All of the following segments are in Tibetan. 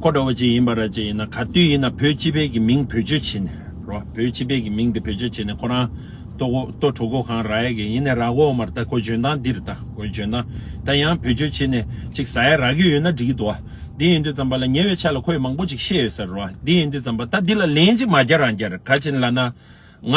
ཁོ་འདྲ་བོ་ཅིག་ཡིན་པ་ར་ཅིག་ཡིན་ན་ག་དུས་ཡིན་ན་བོད་སྤྱི་བེད་ཀྱི་མིང་བེད་སྤྱོད་བྱེད་ནས་རོ་བོད་སྤྱི་བེད་ཀྱི་མིང་དེ་བེད་སྤྱོད་བྱེད་ནས་ཁོ་རང་ལྟོ་གོ་ལྟོ་གྲོ་གོ་གང་ར་ཡ་གི་ཡིན་ནས་ར་གོ་མར་ལྟ་གོ་འཇོན་ཐང་འདིར་ལྟ་གོ་འཇོན་ཐང་ད་ཡང་བེད་སྤྱོད་བྱེད་ནས་ཅིག་ཟ་ཡ་ར་གི་ཡོད་ན་འགྲིག་གི་འདུག་འདི་ཡིན་དུས་ཙམ་པ་ལ་ཉེ་བའི་ཆ་ལ་ཁོས་མང་པོ་ཅིག་བཤད་ཡོད་ས་རེད་འདི་ཡིན་དུས་ཙམ་པ་ད་འདི་ལ་ལན་ཅིག་མ་རྒྱ་རང་རྒྱ་ར་ག་ཅིག་ལ་ན་ང་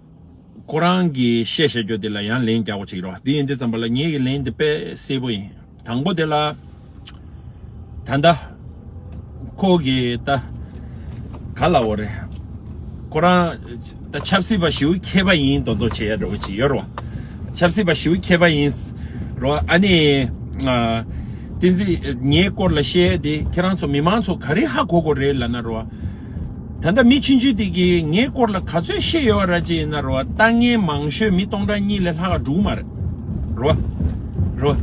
ཁོ་རང་གིས་བཤད་བཤད་རྒྱུ་དེ་ལ་ཡང་ལན་རྒྱག་པ་ཅིག་རོགས་དེ་ཡིན་དེ་ཙམ་པ་ལ་ངེད་ཀྱི་ལན་དེ་དཔེ་གསལ་པོ་ཡིན་དང་པོ་དེ་ལ། ད་ལྟ། ཁོ་གིས་ད། ག་ལ་བོ་རེད། ཁོ་རང། ད་ཆབ་སྲིད་པ་ཞིའུ་མཁས་པ་ཡིན་མདོག་མདོག་བྱེད་ཡ་འདྲ་བོ་ཅིག་ཡོད་རོགས། ཆབ་སྲིད་པ་ཞིའུ་མཁས་པ་ཡིན། རོགས་ཨ་ནི། བསྟན་འཛིན་ངའི་སྐོར་ལ་བཤད་དེ་ཁྱེད་རང་ཚོ་མི་མང་ཚོ་ག་རེ་ཧ་གོ་གོ་རེད་ལ་ན་རོགས། ད་ལྟ་མི་ཕྱི་འཇུས་དེ་གིས་ངའི་སྐོར་ལ་ག་ཚོད་ཤེས་ཡོད་ར་ཅི་ཡིན་ན་རོ་ལྟ་ངན་མང་ཤོས་མི་སྟོང་ཕྲག་གཉིས་ལས་ལྷག་འགྲོ་གི་མ་རེད་རོ། རོ།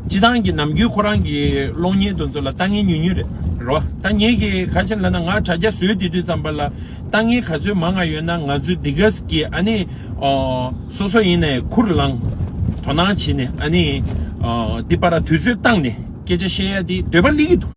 སྤྱི་བཏང་གི་ནམ་རྒྱུན་ཁོ་རང་གི་གློག་བརྙན་དུ་ཚོ་ལ་ལྟ་ངན་ཉུང་ཉུང་རེད་རོ། ད་ངེད་ཀྱིས་ག་ཕྱིར་ལབ་ན་ང་དྲ་རྒྱ་བཟོས་དེ་དུས་ཙམ་པ་ལ་ལྟ་ངན་ག་ཚོད་མང་ང་ཡོད་ན་ང་ཚོའི་འདི་གས་ཀྱི་ཨ་ནི་སོ་སོ་ཡིན་ནས་ཁུར་ལང། དོ་སྣང་བྱེད་ནས་ཨ་ནི་འདི་པ་ར་དུས་ཚོད་བཏང་ནས་སྐད་ཆ་བཤད་ཡ་དེ་འདོད་པ་ལིག་གི་འདུག།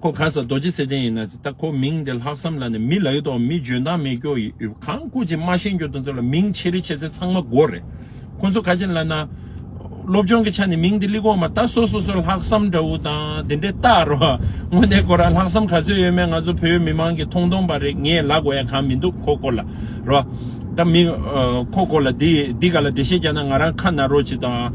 ཁོ་ག་ས་རྡོ་རྗེ་ཚེ་བརྟན་ཡིན་ན་ད་ཁོ་མིང་དེ་ལྷག་བསམ་ལ་ནི་མི་ལ་ཡོད་དོ་མི་འཇོན་ཐང་མེད་སྐྱོ་ཡི་ཡོད་གང་སྐུ་ཅིག་མ་ཤེས་འགྱོ་དོན་ཚོ་ལ་མིང་ཆེ་རི་ཆེ་ཚེ་ཚང་མ་དགོ་རེད་ཁོ་ཚོ་ག་ཅིག་ལ་ན། སློབ་སྦྱོང་གི་ཆ་ནས་མིང་དེ་ལི་གོ་མ་ད་སོ་སོ་སོ་ལྷག་བསམ་འདྲ་བོ་དང་དེ་འདྲའི་ལྟ་རོ་དངོས་གནས་ཁོ་རང་ལྷག་བསམ་ག་ཚོད་ཡོད་མེད་ང་ཚོ་བོད་མི་མང་གི་མཐོང་མཐོང་པ་རེད་ངས་ལ་གོ་ཡ་གང་མི་འདུག་ཁོ་སྐོར་ལ་རོ། ད་མི། ཁོ་སྐོར་ལ་འདི་འདི་ག་ལ་འགྲེལ་བཤད་རྒྱག་ན་ང་རང་ཁ་ན་རོ་ཅིག་དང།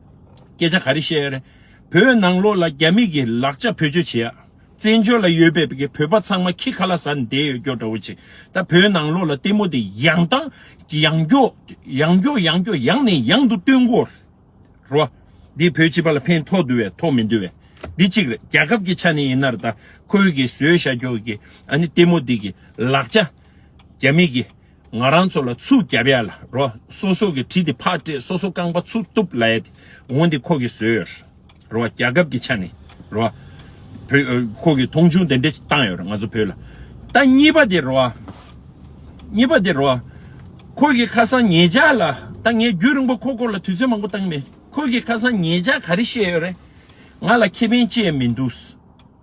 སྐད་ཆ་ག་རེ་བཤད་ཡ་རེད། བོད་ནང་ལོགས་ལ་རྒྱ་མི་གི་ལག་ཆ་བེད་སྤྱོད་བྱེད་ཡ། བཙན་བྱོལ་ལ་ཡོད་པའི་གི་བོད་པ་ཚང་མ་ཁྱི་ཁ་ལ་ཟ་ནས་བསྡད་ཡོད་སྐྱོ་འདྲ་བོ་བྱེད། ད་བོད་ནང་ལོགས་ལ་ལྟད་མོ་དེ་ཡང་དང་ཡང་སྐྱོ། ཡང་སྐྱོ་ཡང་སྐྱོ་ཡང་ནས་ཡང་དུ་སྟོན་དགོ། རོ། འདི་བོད་སྤྱི་པ་ལ་ཕན་ཐོག་འདུ་བའི་ཐོག་མི་འདུ་བའི། འདི་གཅིག་རེད་རྒྱ་ཁབ་གི་ཆ་ནས་ཡིན་ནར་ད་ཁོའི་གི་ཟོས་ཤ་སྐྱོ་གི་ཨ་ནི་ལྟད་མོ་དེ་གི་ལག་ཆ་རྒྱ་མི་གི། ང་རང་ཚོ་ལ་ཆུ་རྒྱབ་ཡ་ལ་རོ་སོ་སོ་གི་གྲི་དེ་ཕག་སྤྲད་སོ་སོ་རྐང་པ་ཆུར་གཏུབ་ལ་ཡ་དེ་འོང་དེ་ཁོ་གི་བཟོས་ཡོད་རེད་རོ་རྒྱ་ཁབ་གི་ཆ་ནས་རོ་བོད་ཁོ་གི་མཐོང་ཆུང་དེ་འདྲ་བཏང་ཡོད་རེད་ང་ཚོ་བོད་ལ་ད་གཉིས་པ་དེ་རོ་གཉིས་པ་དེ་རོ་ཁོ་གི་ཁ་སང་ངེད་ཅག་ལ་ད་ངས་རྒྱུད་རིང་པོ་ཁོ་སྐོར་ལ་དུས་ཚོད་མང་པོ་བཏང་མེད་ཁོ་གི་ཁ་སང་ངེད་ཅག་ག་རེ་བཤད་ཡོད་རེད་ང་ལ་ཁེ་ཕན་ཅི་ཡང་མི་འདུག།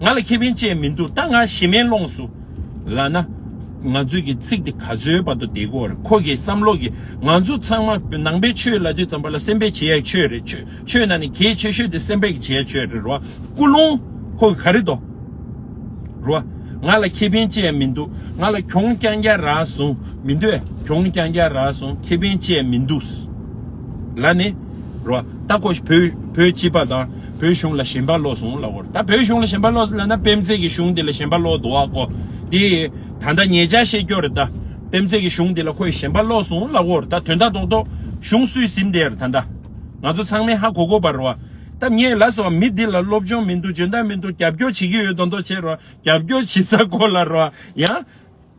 ང་ལ་ཁེ་ཕན་ཅན་མི་འདུག་ད་ང་ཞི་མེན་ལོངས་སུ་ལ་ན། ང་ཚོས་ཀྱི་ཚིག་དེ་ག་ཚོའི་བར་དུ་བསྡད་དགོས་རེད་ཁོ་གིས་བསམ་བློ་གིས་ང་ཚོ་ཚང་མ་ནང་པའི་ཆོས་ལ་དུས་ཙམ་པ་ལ་སེམས་པའི་བྱེད་ཡག་ཆོས་རེད་ཆོས་ན་ནི་གྱེས་ཆོས་ཤོས་དེ་སེམས་པའི་བྱེད་ཡག་ཆོས་རེད་རོ་ཀུ་ལུང་ཁོ་གིས་ག་རེད་དོ་རོ་ང་ལ་ཁེ་ཕན་ཅན་མི་འདུག་ང་ལ་གྱོང་རྐྱང་རྒྱག་ར་སོང་མི་འདོད་གྱོང་རྐྱང་རྒྱག་ར་སོང་ཁེ་ཕན་ཅན་མི་འདུག་ལ་ནི་རོ་ད་ཁོ་བོད་བོད་སྤྱི་པ་དང། བོད་གཞུང་ལ་ཞེན་པ་བློ་བཟུང་སླ་བོར་ད་བོད་གཞུང་ལ་ཞེན་པ་བློ་བཟུང་ལ་ན་པེམ་ཚེ་གི་གཞུང་འདི་ལ་ཞེན་པ་བློ་དུ་བ་གོ་དེ་ད་ལྟ་ངེད་ཅག་ཤེས་རྒྱོ་རེད་ད་པེམ་ཚེ་གི་གཞུང་འདི་ལ་ཁོས་ཞེན་པ་བློ་བཟུང་སླ་བོར་ད་དོན་དག་དོག་དོག་གཞུང་སུས་གཟིམས་དེར་ད་ད་ང་ཚོ་ཚང་མས་ཧ་གོ་གོ་བར་བ་ད་ངས་ལ་སོ་མི་འདི་ལ་སློབ་སྦྱོང་མི་འདུག་འཇོན་ཐང་མི་འདུག་རྒྱབ་སྐྱོར་བྱེད་ཀྱི་ཡོད་དོག་དོག་བྱེད་རོགས་རྒྱབ་སྐྱོར་བྱེད་ས་གོ་ལ་རོགས་ཡ།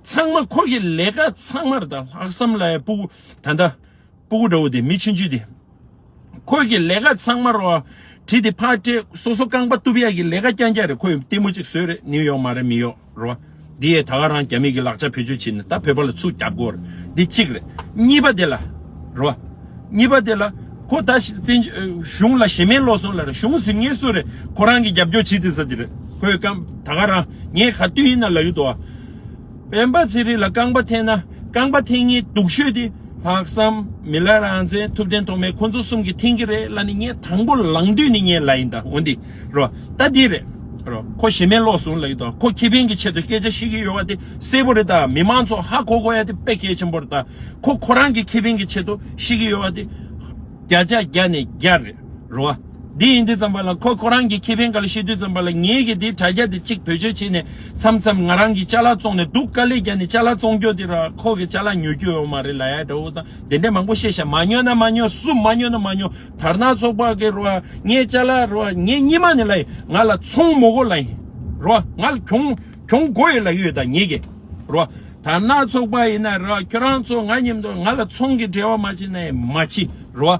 ཚང་མ་ཁོ་གི་ལས་ཀ་ཚང་མར་ད་ལྷག་བསམ་ལ་ཡ་སྤུ་ད་ད། སྤུ་གུ་འདྲ་བོ་དེ་མི་ཕྱིན་ཅི་དེ། ཁོས་ཀྱི་ལས་ཀ་ཚང་མར་བ། དྲི་དེ་ཕག་སྤྲེལ་སོ་སོ་རྐང་པ་གཏུབ་ཡག་གི་ལས་ཀ་རྐྱང་རྐྱང་རེད་ཁོས་ལྟད་མོ་ཅིག་བཟོས་རེད་ནིའུ་ཡོག་མ་རེད་མི་ཡོག་རོ། འདི་ཡས་ད་ག་རང་རྒྱ་མི་གི་ལག་ཆ་བེད་སྤྱོད་བྱེད་ནི་ད་བོད་པ་ལ་ཚུགས་རྒྱབ་དགོས་རེད་འདི་གཅིག་རེད་གཉིས་པ་དེ་ལ། རོ། གཉིས་པ་དེ་ལ། ཁོ་ད་ཤི་བཙན་གཞུང་ལ་ཞེ་མེད་ལོག་སོང་ལ་ར་གཞུང་གཟིགས་ངེས་སུ་རེད་ཁོ་རང་གི་རྒྱབ་སྐྱོར་བྱེད་ཚིག་ས་དེ་རེད་ཁོས་ཀམ་ད་ག་རང་ངས་ག་དུས་ཡིན་ན་ལ་ཡུལ་དུ་བ། སྤེན་པ་ཚེ་རིང་ལ་རྐང་པ་འཐེན་ན་རྐང་པ་འཐེན་ངེས་སྡུག་ཤོས་དེ་ལྷག་བསམ་མི་ལ་རང་བཙན་ཐུབ་བསྟན་ཐོག་མའི་ཁོ་ཚོ་གསུམ་གྱི་འཐེན་གྱི་རེད་ལ་ནི་ངས་དང་པོ་ལང་དུས་ནི་ངས་ལ་ཡིན་ད་ངོ་འདི་རོ་ད་འདི་རེད་རོ་ཁོ་ཞེ་མེད་ལོག་སོང་ལ་ཡོད་ད་ཁོ་ཁེ་ཕན་གྱི་ཆེད་དུ་སྐད་ཆ་བཤད་ཀྱི་ཡོད་བ་དེ་གསལ་པོ་རེད་ད་མི་དམངས་ཚོ་ཧ་གོ་གོ་ཡ་དེ་དཔེ་གལ་ཆེན་པོ་རེད་ད་ཁོ་ཁོ་རང་གི་ཁེ་ཕན་གྱི་ཆེད་དུ་བཤད་ཀྱི་ཡོད་བ་དེ་བརྒྱ་ཆ་བརྒྱ་ནས་བརྒྱ་རེད་རོ། འདི་ཡིན་འདི་ཙམ་པ་ལ་ཁོ་ཁོ་རང་གི་ཁེ་ཕན་ག་ལ་ཤེས་དུས་ཙམ་པ་ལ་ངེད་ཀྱིས་འདི་དྲ་རྒྱ་འདི་གཅིག་བེད་སྤྱོད་བྱེད་ནས་མཚམས་མཚམས་ང་རང་གིས་ཅ་ལག་བཙོང་ནས་འདུག་དཀའ་ལས་རྒྱ་ནས་ཅ་ལག་བཙོང་རྒྱོ་དེ་ར་ཁོ་གི་ཅ་ལག་ཉོ་རྒྱུ་ཡོད་མ་རེད་ལ་ཡ་འདྲ་འུ་ཐང་དེ་འདྲས་མང་པོ་བཤད་ཤག་མ་ཉོ་ན་མ་ཉོ་སུ་མ་ཉོ་ན་མ་ཉོ་དར་ནག་ཚོགས་པ་གི་ར་ངའི་ཅ་ལག་ར་ངའི་སྙིད་མ་ནས་ལ་ཡིན་ང་ལ་ཚོང་མོ་གོ་ལ་ཡིན་ར་ང་ལ་གྱོང་གྱོང་གོ་ཡོད་ལ་ཡོད་ད་ངེད་ཀྱིས་ར་དར་ནག་ཚོགས་པ་ཡིན་ན་ར་ཁྱོད་རང་ཚོ་ང་ཉིན་མདོ་ང་ལ་ཚོང་གི་འབྲེལ་བ་མ་བྱེད་ན་ཡིན་མ་བྱེད་ར།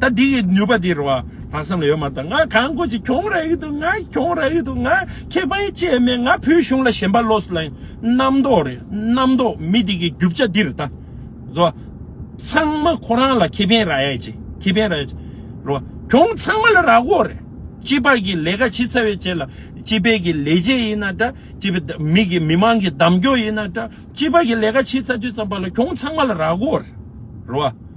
ད་འདི་གི་ནུས་པ་འདི་རུ་ལྷག་བསམ་ལ་ཡོད་མ་ད་ང་གང་དགོས་ཅི་གྱོང་ར་ཡི་འདུག་ང་གྱོང་ར་ཡི་འདུག་ང་ཁེ་ཕན་བཅས་མེད་ང་བོད་གཞུང་ལ་ཞེན་པ་ལོས་ལན་རྣམ་རྟོག་རེད་རྣམ་རྟོག་མི་འདི་གི་རྒྱུ་བྱ་འདིར་ད་རོ་ཚང་མ་ཁོ་རང་ལ་ཁེ་ཕན་ར་ཡ་ཅི་ཁེ་ཕན་ར་ཡ་ཅི་རོ་གྱོང་ཚང་མ་ལ་ར་གོ་རེད་སྤྱི་པ་གི་ལས་ཀ་ཕྱི་ཚ་བའི་བྱས་ལ་སྤྱི་པའི་གི་ལས་བྱས་ཡིན་ན་འདྲ་སྤྱི་པ་མི་གི་མི་མང་གི་འདམ་རྒྱོ་ཡིན་ན་འདྲ་སྤྱི་པ་གི་ལས་ཀ་ཕྱི་ཚ་དུས་ཙམ་པ་ལ་གྱོང་ཚང་མ་ལ་ར་གོ་རེད་རོ།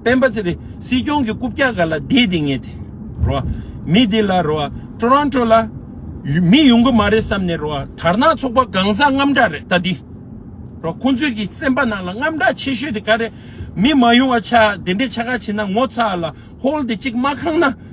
སྤེན་པ་ཚེ་རིང་སྲིད་སྐྱོང་གི་རྐུབ་བཀྱག་ག་ལ་བསྡད་དེ་ངས་དེ་རོ་མི་དེ་ལ་རོ Toronto ལ་མི་ཡོང་གི་མ་རེད་བསམ་ནས་རོ་དར་ནག་ཚོགས་པ་གང་ཟག་རྔམ་དྲག་རེད་ད་དེ་རོ་ཁོང་ཚོས་ཀྱི་སེམས་པ་ནང་ལ་རྔམ་དྲག་ཆེ་ཤོས་དེ་ག་རེད་མི་མ་ཡོང་བ་ཆ་དེ་འདྲས་ཆ་ག་བྱེད་ན་ངོ་ཚ་ལ་ཧོལ་དེ་གཅིག་མ་ཁང་ན།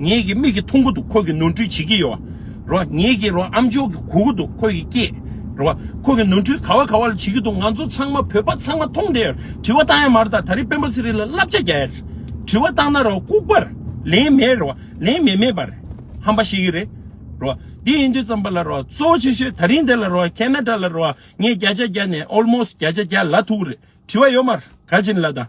ངེད་ཀྱི་མིག་གི་ཐུང་གུ་འདུག་ཁོ་གི་ནོར་འཁྲུལ་བྱེད་ཀྱི་ཡོད་རོ་བ། ངེད་ཀྱི་རོ་ཨམ་ཅོག་གི་གུ་གུ་འདུག་ཁོ་གི་སྐྱེས་རོ་བ། ཁོ་གི་ནོར་འཁྲུལ་ག་བ་ག་བ་ལ་བྱེད་ཀྱི་འདུག་ང་ཚོ་ཚང་མ་བོད་པ་ཚང་མ་མཐོང་བསྡད་ཡོད་དྲི་བ་བཏང་ཡ་མ་རེད་ད་ད་རིང་སྤེན་པ་ཚེ་རིང་ལ་བསླབ་བྱ་རྒྱག་ཡ་རེད་དྲི་བ་བཏང་ན་རོ་ལྐུག་པ་རེད་ལན་མེད་རེད་བ་ལན་མེད་མེད་པ་རེད་ཧམ་པ་ཤེས་ཀྱི་རེད་རོ་བ། དེ་ཡིན་དུས་ཙམ་པ་ལ་རོ་བ་གཙོ་བོ་ཆེ་ཤོས་ད་རིང་འདི་ལ་རོ་བ Canada ལ་རོ་བ་ངས་བརྒྱ་ཆ་བརྒྱ་ནས almost བརྒྱ་ཆ་བརྒྱ་ལ་ཐུག་རེད་དྲི་བ་ཡོད་མ་རེད་ག་བྱིན་ལ་དང།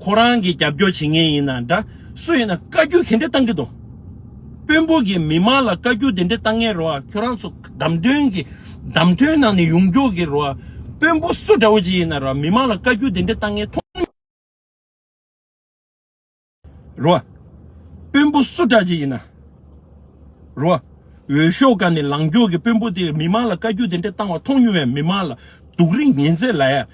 ཁོ་རང་གིས་རྒྱབ་སྐྱོར་བྱེད་མཁན་ཡིན་ན་འདྲ་སུ་ཡིན་ན་བཀའ་རྒྱུད་གན་འདྲེ་བཏང་གི་འདུག་དཔོན་པོ་གིས་མི་མང་ལ་བཀའ་རྒྱུད་དེ་འདྲེ་བཏང་ངེས་རོ་ཁྱོད་རང་ཚོ་གདམ་ཐོན་གི་གདམ་ཐོན་ནང་ནས་ཡོང་རྒྱུག་གི་རོ་དཔོན་པོ་སུ་འདྲ་བོ་ཅིག་ཡིན་ན་རོ་མི་མང་ལ་བཀའ་རྒྱུད་དེ་འདྲེ་བཏང་ངེས་རོ་དཔོན་པོ་སུ་འདྲ་ཅིག་ཡིན་ན་རོ་འོས་ཤོག་ཀ་ནས་ལངས་རྒྱུག་གི་དཔོན་པོ་དེ་མི་མང་ལ་བཀའ་རྒྱུད་དེ་འདྲེ་བཏང་བ་མཐོང་མྱོང་བའི་མི་མང་ལ་སྡུག་རིན་ངན་ཚད་ལ་ཡ།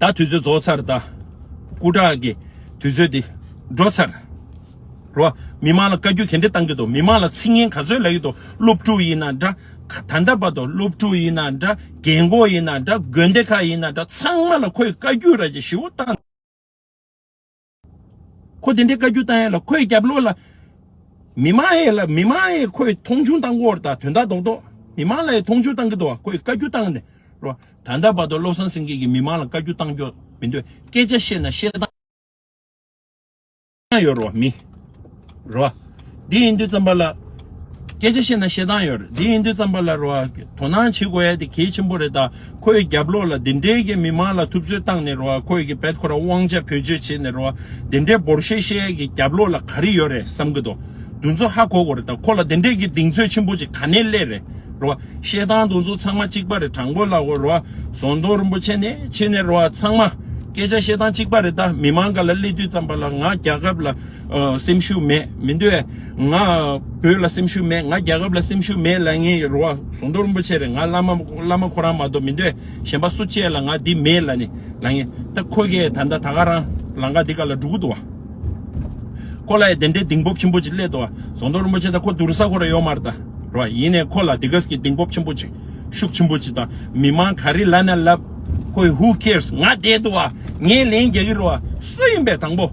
ད་དུས་ཚོད་རྫོགས་ཚར་ད། སྐུ་དྲག་གི་དུས་ཚོད་དེ་འགྲོ་ཚར། རེད་བ། མི་མང་ལ་བཀའ་རྒྱུ་གན་འདྲེ་གཏང་གི་འདུག་མི་མང་ལ་ཚིག་ངན་ག་ཚོད་ལབ་ཡི་འདུག་སློབ་ཕྲུག་ཡིན་ན་འདྲ། ད་ལྟ་བར་དུ་སློབ་ཕྲུག་ཡིན་ན་འདྲ་རྒན་གོག་ཡིན་ན་འདྲ་དགོན་སྡེ་ཁག་ཡིན་ན་འདྲ་ཚང་མ་ལ་ཁོས་བཀའ་རྒྱུ་ར་ཅིག་ཞུ་བ་གཏང། ཁོ་དེ་འདྲའི་བཀའ་རྒྱུ་བཏང་ཡས་ལ་ཁོའི་རྒྱབ་ལོགས་ལ་མི་མང་ཡས་ལ་མི་མང་ཡས་ཁོའི་མཐོང་ཆུང་བཏང་གོ་ད་དོན་དག་དོག་དོག་མི་མང་ལ་ཡས་མཐོང་ཆུང་བཏང་གི་འདུག་ཁོའི་བཀའ་རྒྱུ་བཏང་ནས་རོ་ད་ལྟ་བར་དུ་བློ་བཟང་སེང་གེ་གིས་མི་མང་ལ་བཀའ་རྒྱུ་བཏང་འགྱོག་མི་འདོད་སྐད་ཆ་བཤད་ན་བཤད་སྟངས་ཡོད་རོ་མི། རོ་ཨ། འདི་ཡིན་དུས་བརྩམས་པ་ལ། སྐད་ཆ་བཤད་ན་ཤེས་སྟངས་ཡོད་རེད་འདི་ཡིན་དུས་བརྩམས་པ་ལ་རོ་ཨ། དོ་སྣང་བྱེད་དགོས་ཡ་དེ་གལ་ཆེན་པོ་རེད་ད། ཁོས་རྒྱབ་ལོག་ལ་དེ་འདྲའི་གི་མི་མང་ལ་ཐུབ་ཚོད་བཏང་ནས་རོ་ཨ་ཁོས་གི་བལ་ཁོ་རང་དབང་ཆ་བེད་སྤྱོད་བྱེད་ནས་རོ་ཨ་དེ་འདྲའི་འབོར་བཤད་བཤད་ཡ་གི་རྒྱབ་ལོག་ལ་ག་རེ་ཡོད་རེད་བསམ་གི་འདུག་དུས་ཚོད་ཧ་གོ་གོ་རེད་ད་ཁོ་ལ་དེ་འདྲའི་གི་གདེང་ཚོད་ཆེན་པོ་ཅིག་ག་ནས་སླེབས་རེད་རོ་ཨ་བཤད་སྟངས་དུས་ཚོད་ཚང་མ་གཅིག་པ་རེད་དྲང་པོ་ལ་གོ་རོ་ཨ་ཟོང་རྡོ་རིན་པོ་ཆེ་ནས་ཆེ་ནས་རོ་ཨ་ཚང་མ་སྐད་ཆ་བཤད་སྟངས་གཅིག་པ་རེད་ད་མི་མང་ག་ལ་སླེབས་དུས་བརྩམས་པ་ལ་ང་རྒྱ་ཁབ་ལ། སེམས་ཤུགས་མེད་མི་འདོད། ང་བོད་ལ་སེམས་ཤུགས་མེད་ང་རྒྱལ་ཁབ་ལ་སེམས་ཤུགས་མེད་ལ་ངའི་རེ་བ་ཟོང་རྡོ་རིན་པོ་ཆེ་རེད་ང་བླ་མ་བླ་མ་ཁོ་རང་མ་གཏོགས་མི་འདོད་གཞན་པ་སུ་བཅས་ལ་ང་འདི་མེད་ལ་ནི་ལ་ངས་ད་ཁོ་གས་ད་ད་ག་རང་ལང་ཀ་འདི་ག་ལ་འགྲོ་གི་འདུག་བ། ཁོ་ལ་ཡ་དེ་འདྲའི་གདིང་སྤོབས་ཆེན་པོ་ཅིག་སླེབས་འདུག་བ་ཟོང་རྡོ་རིན་པོ་ཆེ་ད་ཁོ་དུར་ས་ཁོ་ར་ཡོད་མར་ད་རེད་བ་ཡིན་ནས་ཁོ་ལ་དེ་གས་ཀྱི་གདིང་སྤོབས་ཆེན་པོ་ཅིག་ཤུགས་ཆེན་པོ་ཅིག་ད་མི་དམངས་ག་རེ་ལ་ན་ལབ་ཁོས who cares ང་བསྡད་འདུག་བ་ངས་ལན་རྒྱག་གི་རེད་བ་སུ་ཡིན་པའི་དང་པོ།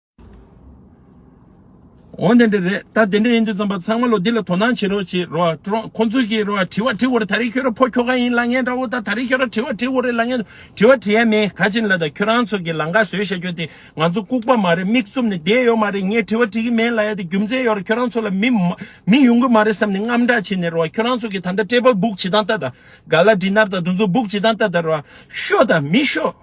འོན་ཏེ་འདི་རེད་ད་དེ་འདྲ་ཡིན་དུས་རྩམ་པ་ཚང་མ་ལོ་འདི་ལ་དོ་སྣང་བྱེད་རོགས་བྱེད་རོགས་ཀྲོང་ཁོང་ཚོས་ཀྱིས་རོགས་དྲི་བ་དྲི་འོ་རེད་ད་རེས་ཁྱོད་ར་ཕོ་ཁྱོ་ག་ཡིན་ལ་ངས་འདྲ་བོ་ད་ད་རེས་ཁྱོད་ར་དྲི་བ་དྲི་འོ་རེད་ལ་ངས་དྲི་བ་དྲི་ཡ་མེད་ག་ཅིན་ལ་ད་ཁྱོད་རང་ཚོ་གིས་ལང་ཀ་ཟོས་ཤ་ཁྱོད་དེ་ང་ཚོ་ལྐུག་པ་མ་རེད་མིག་བཙུམ་ནས་བསྡད་ཡོད་མ་རེད་ངས་དྲི་བ་དྲི་གི་མེད་ལ་ཡ་དེ་རྒྱུ་མཚན་ཡོད་རེད་ཁྱོད་རང་ཚོ་ལ་མི་མི་ཡོང་གི་མ་རེད་བསམ་ནས་རྔམ་སྐྲག་བྱེད་ནས་རོགས་ཁྱོད་རང་ཚོ་གིས་ད་ལྟ་ཀྲེ་པལ་སྦུག་བྱེད་སྟངས་ལྟ་ད་ག་ལ་འདི་ནར་ད་དུ་ཚོ་སྦུག་བྱེད་སྟངས་ལྟ་ད་རོགས་ཤོ་ད་མི་ཤོ།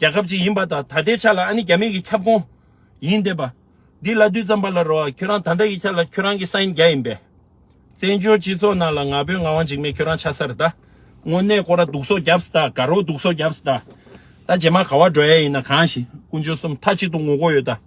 རྒྱལ་ཁབ་ཅིག་ཡིན་པ་དང་ད་ལྟའི་ཆ་ལ་ཨ་ནི་རྒྱ་མིག་གི་ཁྱབ་ཁོངས་ཡིན་འདས་པ། འདི་བླ་བསྡུས་ཙམ་པ་ལ་རོ། ཁྱོད་རང་ད་ལྟ་ཡི་ཆ་ལ་ཁྱོད་རང་གི་ས་ཡིན་རྒྱ་ཡིན་པས། བཙན་བྱོལ་སྤྱི་ཚོགས་ནང་ལ་ང་བོད་ང་དབང་འཇིགས་མེད་ཁྱོད་རང་ཆ་སར་གདའ། དངོས་གནས་ཀོ་ར་སྡུག་སོགས་རྒྱབ་སྟ་དགའ་རོགས་སྡུག་སོགས་རྒྱབ་སྟ། ད་རྗེས་མ་ག་བ་འགྲོ་ཡས་ཡིན་ན་གང་ཞིག་ཀུན་སྤྱོད་གསུམ་མཐའ་གཅིག་ཏུ་ངུ་གོ་ཡོད་ད།